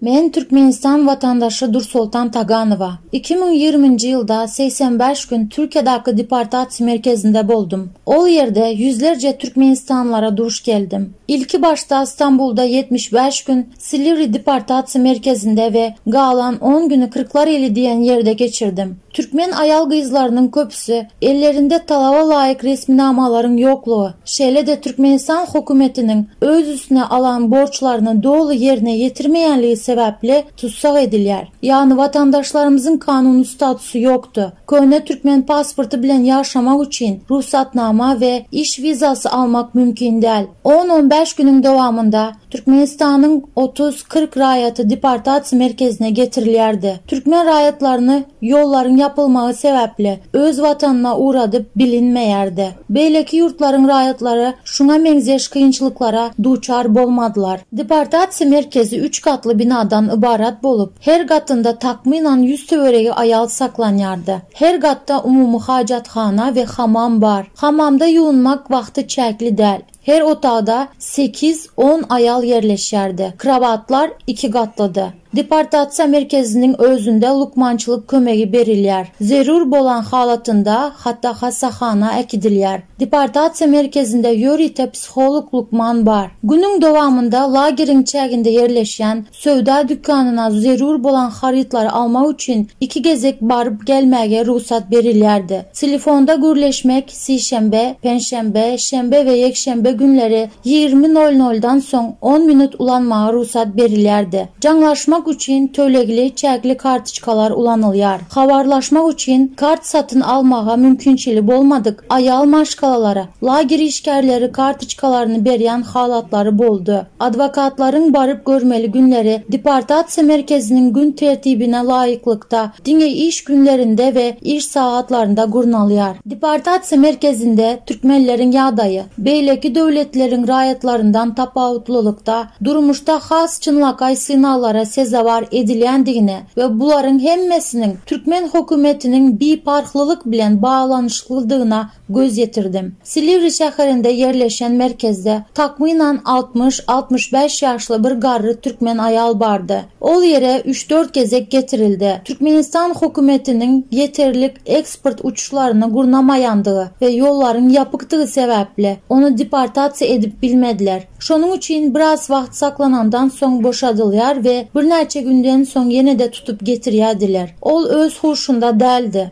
Men Türkmenistan watandaşy Dursoltan Taganowa. Iki müň ýigriminji ýylda segsen bäş gün Türkiýadaky deportasiýa merkezinde boldum. Ol ýerde ýüzlerje türkmenistanlylara duş geldim. Ilki başda Stambulda ýetmiş bäş gün, Silivri deportasiýa merkezinde we galan on güni Kyrklar ili diýen ýerde geçirdim. Türkmen aýal-gyzlarynyň köpüsi ellerinde talaba laýyk resminamalaryň ýoklugy, şeýle-de Türkmenistan hokumetiniň öz üstüne alan borçlaryny doly ýerine ýetirmeýänligi sebäpli tussag edilýär. Ýagny watandaşlarymyzyň kanuny statusy ýokdy. Köne türkmen pasporty bilen ýaşamak üçin rugsatnama we iş wizasy almak mümkin däl. On-on bäş günüň dowamynda Türkmenistanyň otuz, kyrk raýaty deportasiýa merkezine getirilýärdi. Türkmen raýatlaryny ýollaryň ýapylmagy sebäpli öz watanyna ugradyp bilinmeýärdi. Beýleki ýurtlaryň raýatlary şuňa meňzeş kynçylyklara duçar bolmadylar. Deportasiýa merkezi üç gatly binadan ybarat bolup, her gatynda takmynan ýüz töweregi aýal saklanýardy. Her gatda umumy hajathana we hamam bar. Hamamda ýuwunmak wagty çäkli däl. Her otagda sekiz, on aýal ýerleşýärdi. Krowatlar iki gatlydy. Deportasiýa merkeziniň özünde lukmançylyk kömegi berilýär. Zerur bolan halatynda hata hassahana äkidilýär. Deportasiýa merkezinde ýörite psiholog-lukman bar. Günüň dowamynda lageriň çäginde ýerleşýän Söwda dükanyna zerur bolan harytlary almak üçin iki gezek baryp gelmäge rugsat berilýärdi. Telefonda gürleşmek sişenbe, penşenbe, şenbe we ýekşenbe günleri ýigrimi nol noldan soň on minut ulanmaga rugsat berilýärdi. Jaňlaşmak üçin tölegli çäkli kartoçkalar ulanylýar. Habarlaşmak üçin kart satyn almaga mümkinçili bolmadyk aýal maşgalalara Lager işgärleri kartoçkalaryny berýän halatlary boldy. Adwokatlaryň baryp görmeli günleri deportasiýa merkeziniň gün tertibine laýyklykda, diňe iş günlerinde we iş sagatlarynda gurnalýar. Deportasiýa merkezinde türkmenleriň ýagdaýy, beýleki döwletleriň raýatlaryndan tapawutlylykda, durmuşda has çynlakaý synaglara sezewar edilýändigini we bularyň hemmesiniň türkmen hökümetiniň biparhlylyk bilen baglanyşyklydygyna göz ýetirdim. Silivri şäherinde ýerleşen merkezde takmynan altmyş, altmyş bäş ýaşly bir garry türkmen aýal bardy. Ol ýere üç-dört gezek getirildi. Türkmenistan hökümetiniň ýeterlik eksport uçuşlaryny gurnamaýandygy we ýollaryň ýapykdygy sebäpli, ony deportasiýa edip bilmediler. Şonuň üçin biraz wagt saklanandan soň boşadylýar we birnäçe günden soň ýene-de tutup getirýärdiler. Ol öz huşunda däldi.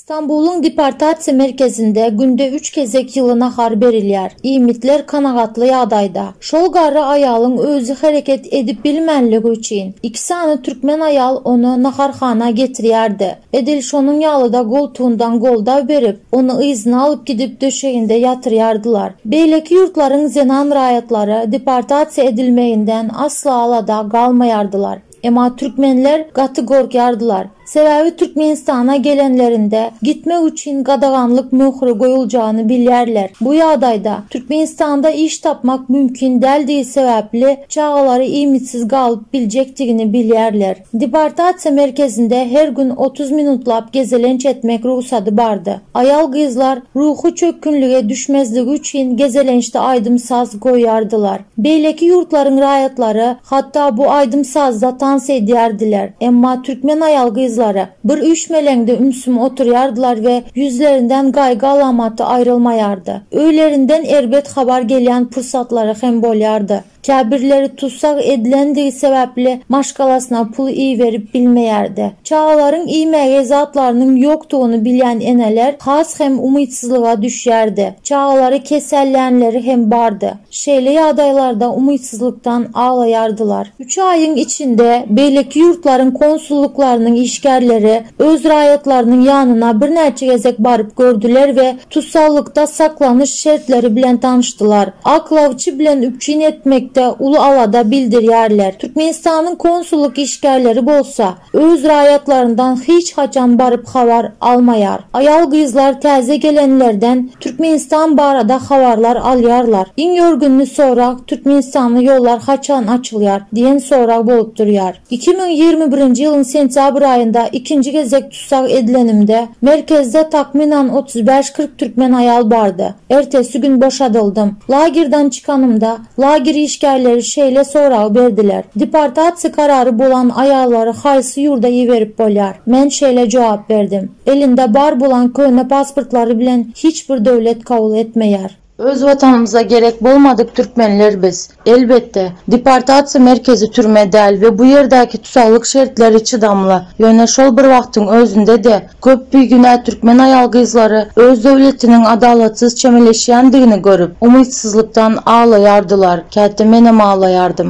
Stambulyň deportasiýa merkezinde günde üç gezek ýyly nahar berilýär. Iýmitler kanagatly ýagdaýda. Şol garry aýalyň özi hereket edip bilmänligi üçin, iki sany türkmen aýal ony naharhana getirýärdi. Edil şonuň ýaly-da goltugyndan goldaw berip, ony yzyna alyp gidip döşeginde ýatyrýardylar. Beýleki ýurtlaryň zenan raýatlary deportasiýa edilmeginden asla alada galmaýardylar. Emma türkmenler gaty gorkýardylar. Sebäbi Türkmenistana gelenlerinde gitmek üçin gadaganlyk möhri goýuljany bilýärler. Bu ýagdaýda Türkmenistanda iş tapmak mümkin däldigi sebäpli çagalary iýmitsiz galyp biljekdigini bilýärler. Deportasiýa merkezinde her gün otuz minutlap gezelenç etmek rugsady bardy. Aýal-gyzlar ruhy çökgünlige düşmezligi üçin gezelençde aýdym-saz goýýardylar. Beýleki ýurtlaryň raýatlary hatda bu aýdym-sazda tans edýärdiler, emma türkmen aýal-gyzlary bir üýşmeleňde ümsüm oturýardylar we ýüzlerinden gaýgy alamaty aýrylmaýardy. Öýlerinden erbet habar gelýän pursatlary hem bolýardy. Käbirleri tussag edilendigi sebäpli maşgalasyna pul iberip bilmeýärdi. Çagalaryň iýmäge zatlarynyň ýokdugyny bilýän eneler has hem umytsyzlyga düşýärdi. Çagalary kesellänleri hem bardy. Şeýle ýagdaýlarda umytsyzlykdan aglaýardylar. Üç aýyň içinde beýleki ýurtlaryň konsullyklarynyň işgärleri öz raýatlarynyň ýanyna birnäçe gezek baryp gördüler we tussaglyk-da saklanyş şertleri bilen tanyşdylar. Aklawçy bilen üpjün etmekde uly alada bildirýärler. Türkmenistanyň konsullyk işgärleri bolsa, ýok. Öz raýatlaryndan hiç haçan baryp habar almaýar. Aýal-gyzlar täze gelenlerden Türkmenistan barada habarlar alýarlar. Iň ýörgünli sorag Türkmenistanly ýollar haçan açylýar? diýen sorag bolup durýar. Iki müň ýigrimi birinji ýylyň sentýabr aýynda ikinji gezek tussag edilenimde, merkezde takmynan otuz bäş-kyrk türkmen aýal bardy. Ertesi gün boşadyldym. Lagerden çykanymda, Lager işgärleri şeýle sorag berdiler, Deportasiýa karary bolan aýallary haýsy ýurda iberip bolýar? Men şeýle jogap berdim, Elinde bar bolan köne pasportlary bilen hiç bir döwlet kabul etmeýär. Öz Watanymyza gerek bolmadyk türkmenler biz. Elbetde, deportasiýa merkezi türme däl we bu ýerdäki tussaglyk şertleri çydamly, ýöne şol bir wagtyň özünde-de Köp bigünä türkmen aýal-gyzlary öz döwletiniň adalatsyz çemeleşýändigini görüp, umytsyzlykdan aglaýardylar, käte menem aglaýardym.